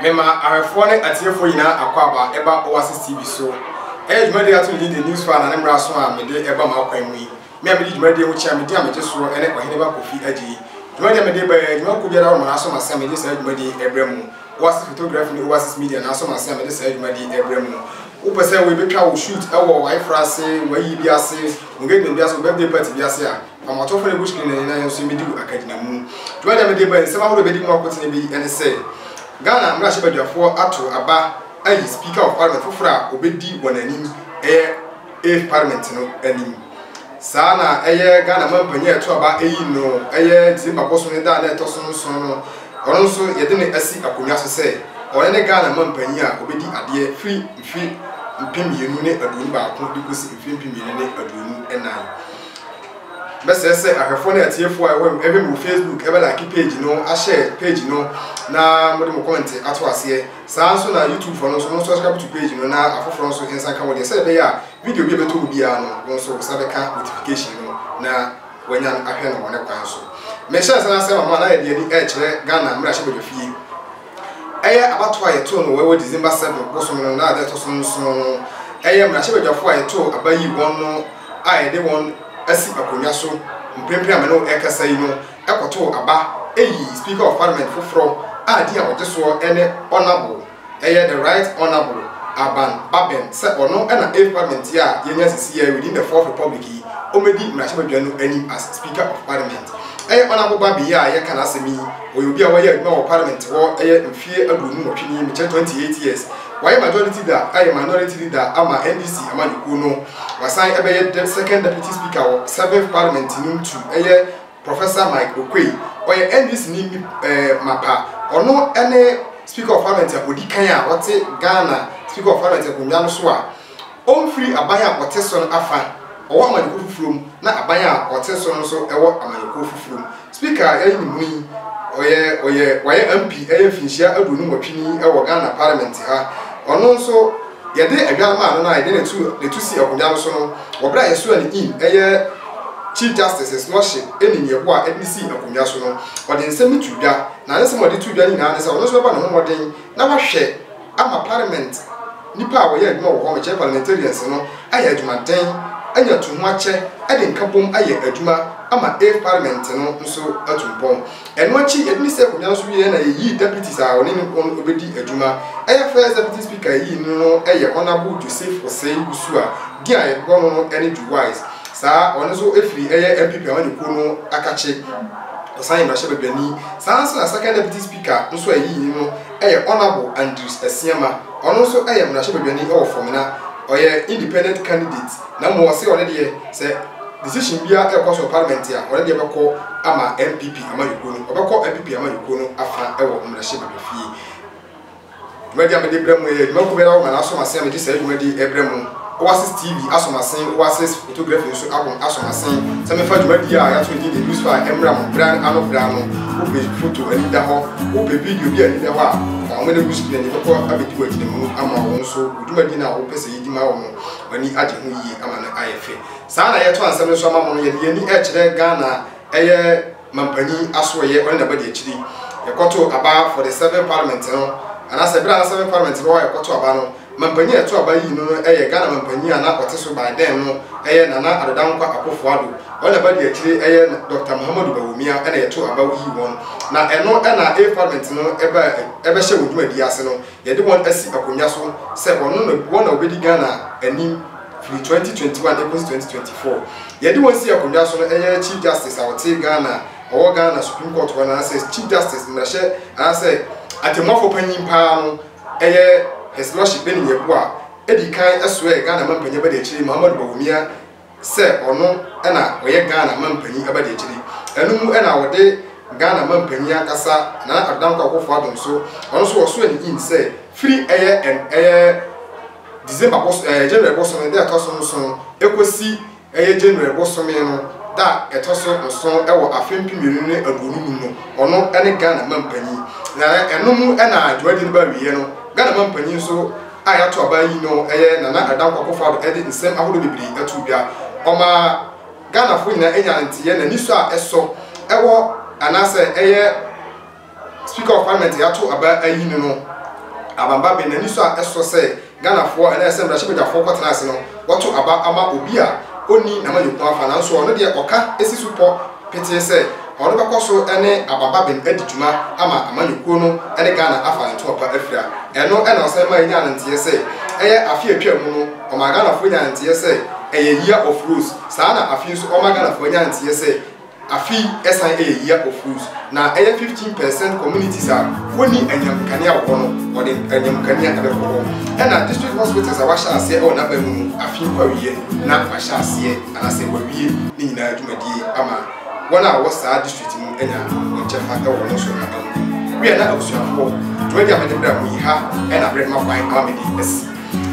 mema ahwɛfoɔ ne atiefoɔ nyinaa akwaaba ɛba oasis tv so ɛyɛ dwumadie ato ne de news fan ne mmara so a mede ɛba ma akwan mu yi me a mede dwumadie ho kyea medi a megye soɔ ɛne ɔhene ba kofi agye yi dwumadie a mede ba yɛ dwuma ko biara wɔ mana so masa mede saa dwumadie ɛbrɛ mu oasis photography ne oasis media na so masa mede saa dwumadie ɛbrɛ mu wopɛ sɛ wobɛtwa wo shoot ɛwɔ wayefra ase wayi bi ase Ɔgɛdi na wiase birthday party bi ase a Amɔtɔfo na Bushkin na nyinaa yɛn nso yɛmɛdi wɔ Akagyina mu. Dwumadie a mede baɛ nsɛm ahoroɔ bɛdi mu akotene bi ɛne sɛ Ghana mmarahyɛbadwafoɔ ato aba ayi Speaker of Parliament foforɔ a ɔbɛdi wɔn anim ɛyɛ eighth Parliament no anim. Saa na ɛyɛ Ghana manpanin a ɛto aba ɛyi no ɛyɛ December bosome da a na ɛtɔ so nson no ɔno nso yɛde no asi akonnwa so sɛ ɔno ne Ghana manpanin a ɔbɛdi adeɛ firi mfe mpem mmienu ne aduonu baako de kosi mfe mpem mmienu ne aduonu nnan. Mɛsrɛ sɛ ahwɛfoɔ ne atiefoɔ a ɛwɔ ɛhwɛ me wɔ Facebook ɛbɛ like page no, ahyɛ page no na mode mo comment ato aseɛ. Saa nso na YouTube foɔ no nso mo subscribe to page no na afoforɔ nso nsa nka mo deɛ sɛ ɛbɛyɛ a video bi a ɛbɛtɔ mu biara no wɔn nso sa bɛka notification no na wɔanya ahwɛ no wɔ ne kwan so. Mehyɛ nsa no asɛm ama na yɛde ani ɛkyerɛ Ghana mmarahyɛbadwafie. Ɛyɛ abatoɔ a yɛtoo no wɔ ɛwɔ December 7 bosome no na ada ɛtɔ so nson no. Ɛyɛ mmarahyɛbadwafoɔ a yɛtoo aba yii wɔn no a yɛde wɔn asi akonnwa so mprempren a me ne wo ɛrekasa yi no ɛkɔtoo aba ɛyii Speaker of Parliament foforɔ a din a ɔgye soɔ ɛne Honourable ɛyɛ The Right Honourable Aban Baben sɛ ɔno ɛna Eighth Parliament yi a yɛnya sisi yɛ within the Fourth Republic yi ɔmmɛdi mmarahyɛbadwa no anim as Speaker of Parliament. Ɛyɛ Honourable Baben yi a yɛreka n'asɛm yi Ɔyɛ obi a wayɛ adwuma wɔ parliament hɔ ɛyɛ mfeɛ aduonu nwɔtwe nie, mekyɛ 28 years. Wayɛ majority leader ɛyɛ minority leader ama NDC amanyɔkuo no. Wasan ɛbɛyɛ dɛ second deputy speaker wɔ seventh parliament no ntu ɛyɛ Professor Mike Oquaye. Ɔyɛ NDC ni mip ɛɛ mapa. Ɔno ɛne speaker of parliament a ɔdi kan a ɔte Ghana speaker of parliament akonnwa no so a Ɔmfiri aban a ɔte so no afã, ɔwɔ amanyɔkuo foforɔ mu, na aban a ɔte so no nso wɔ amanyɔkuo foforɔ mu. Speaker a yɛreyi no mu yi, ɔyɛ ɔyɛ wayɛ MP ɛyɛ mfinhyia aduonu nwɔtwe ni wɔ Ghana Parliament ha. Ɔno nso yɛde adware maa no na yɛde n'atu n'atu si akonnwa no so no wɔ berɛ a yɛsoaa no in ɛyɛ Chief Justices na ɔhye ɛnim yɛboa ɛde no sii akonnwa so no. Ɔde nsɛm no too dwa, na ne nsɛm a ɔde too dwa no nyinaa ne sɛ ɔno nso bɛbɔ ne ho mmɔden na wahwɛ, ama parliament nnipa a wɔyɛ adwuma wɔ hɔ, mekyerɛ parliamentarians no, ayɛ adwumaden, anya to ho akyɛ de nkabom ayɛ adwuma ama Ave parliament no nso atu mpɔn. Ɛno akyi, yɛde ne sii akonnwa no so wieeɛ na yɛyii deputies a ɔne no wɔn bɛdi adwuma. Ɛyɛ first deputy speaker a yɛyii no no yɛ Honourable Joseph Osei Usu a din a yɛbobɔ no no ne Ju Wise. Saa ɔno nso firi ɛyɛ NPP amanyɔkuo no akakye. Ɔsan yɛ mmarahyɛbadwani. Saa ara nso na second deputy speaker nso a yɛyii no no yɛ Honourable Andrews Asiamah, ɔno nso yɛ mmarahyɛbadwani wɔ fam na ɔyɛ independent candidate na mmom ɔse ɔno deɛ sɛ decision biara ɛrekɔ so wɔ parliament a ɔno deɛ bɛkɔ ama NPP amanyɔkuo no, ɔbɛkɔ NPP amanyɔkuo no afa wɔ mmarahyɛbadwafie. Dwumadi a mede brɛ mo yɛ dwumakuo biara wɔ Ghana Asomasen a mede saa dwumadi rebrɛ mo, Oasis TV Asomasen, Oasis. Photography nso abom asɔ m'asen sɛ mɛfa dwumadie a yɛato no din The Loose Fire mmra mo bere ano bere ano. Wo pɛ foto ani da hɔ, wo pɛ video bi a ani da hɔ a, ma wɔne wo screen ani bɛkɔ abɛdi wo agyinamu ama wo nso wo dwumadie no a wopɛ sɛ yɛdi ma wo no w'ani agye ho yie ama no ayɛ fɛ. Saa na yɛto ansɛm no nso ama mo no, yɛde yɛn ani rekyerɛ Ghana a ɛyɛ. Mampanyin Asoɛyɛ ɔne n'abadiakyiri kɔtoo aba for the seventh parliament no anaasɛ bere a na seventh parliament no wɔ kɔto aba no mampanyin a ɛto aba yii no no yɛ Ghana mampanyin a na ɔte so by then no yɛ Nana Addo Dankwa Akuffo Addo ɔne n'abadiakyiri yɛ Doctor Mahamudu Bawumia na yɛtoo aba yii wɔn na ɛno na eighth parliament no ba bɛhyɛ wɔn dwumadie ase no yɛde wɔn asi akonnwa so sɛ wɔn na wɔbɛdi Ghana anim firi twenty twenty one ɛkɔsi twenty twenty four yɛde wɔn sii akonnwa so no ɛyɛ chief justice a ɔte Ghana ɔwɔ Ghana supreme court hɔ no anaasɛ chief justice mmarahyɛ anaasɛ atɛmmuafoɔ panyin paa no ɛyɛ his lordship Benny Yeboah a ɛdi kan ɛsoɛɛ Ghana mampanyin abadiakyire Muhammadu Bawumia sɛ ɔno ɛna ɔyɛ Ghana mampanyin abadiakyire ɛno mu ɛna ɔde Ghana mampanyin ankasa Nana Addo Dankwa Akufo-Addo nso ɔno nso ɔsoɛ ne in sɛ firi ɛyɛ ɛyɛ December bɔs ɛɛ January bosome da a ɛtɔ so nson kɔsi ɛyɛ January bosome no da a ɛtɔ so nson wɔ afe mpem mmienu ne aduonu num no, ɔno ne Ghana Mampanyin. Na ɛno mu na dwumadie no ba awieɛ no, Ghana Mampanyin nso a yɛato aba ayi no ɛyɛ Nana Addo Dankwa Akufo-Addo de nsɛm ahodoɔ bebree too dwa. Ɔma Ghanafoɔ nyinaa nyaa nteeɛ na anisɔ a ɛsɔ wɔ anaasɛ ɛyɛ. Speaker of Parliament Reato Aba ayi no no, Aban Bagbin n'ani sɔ a ɛsɔ sɛ Ghanafoɔ anaa sɛ mmarahyɛbadwafoɔ kɔtena ase no wɔto aba ama obi a ɔnni n'amanyɔkuo afa nanso ɔno deɛ ɔka si so pɔ petee sɛ ɔno bɛkɔ so ne Aban Bagbin adi dwuma ama amanyɔkuo no ne Ghana afa ne ntoma pa afira. Ɛno na ɔsan ma yɛnyaa no nteɛ sɛ ɛyɛ afe a atwaa mu no ɔmaa Ghanafoɔ nyaa nteɛ sɛ ɛyɛ year of rose saa na afei nso ɔma Ghanafoɔ nya nteɛ sɛ Afei ɛsan yɛ year of use na ɛyɛ fifteen percent communities a wɔnni anyinam nkanea wɔ hɔ no wɔde anyinam nkanea ɛbɛkɔ hɔ ɛna district hospitals a wɔahyɛ aseɛ ɛwɔ n'aba mu no afei nkɔ awieɛ na wɔahyɛ aseɛ anasɛ wɔawie ne nyinaa dwumadie ama wɔn a wɔwɔ saa district mu anya wɔn kyɛfa ɛwɔ wɔn so n'aba mu wia na abusuafoɔ dwumadie a mede bra mo yi ha ɛna abere ma kwan ama mede asi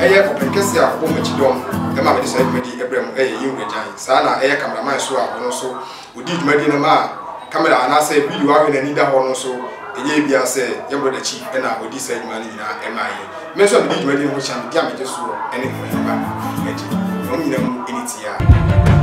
ɛyɛ ɔpɛn kɛseɛ a wɔbɔ mo akyi dɔm ɛma mede saa dwumadie ɛbrɛ mo ɛyɛ yɛn wura gyan Saa ara na ɛyɛ kameraman so a ɔno nso ɔdi dwumadie no ma a kamera anaasɛ video awe n'ani da hɔ no nso ɛnyɛ ebia sɛ yɛn brɔda Chi na ɔdi saa dwuma no nyinaa ma yɛn. Me nso a medi dwumadie no ho kyea no, di a megye soɔ ne ho mfa ba me ho agye. Na wɔn nyinaa mu ɛni tiaa.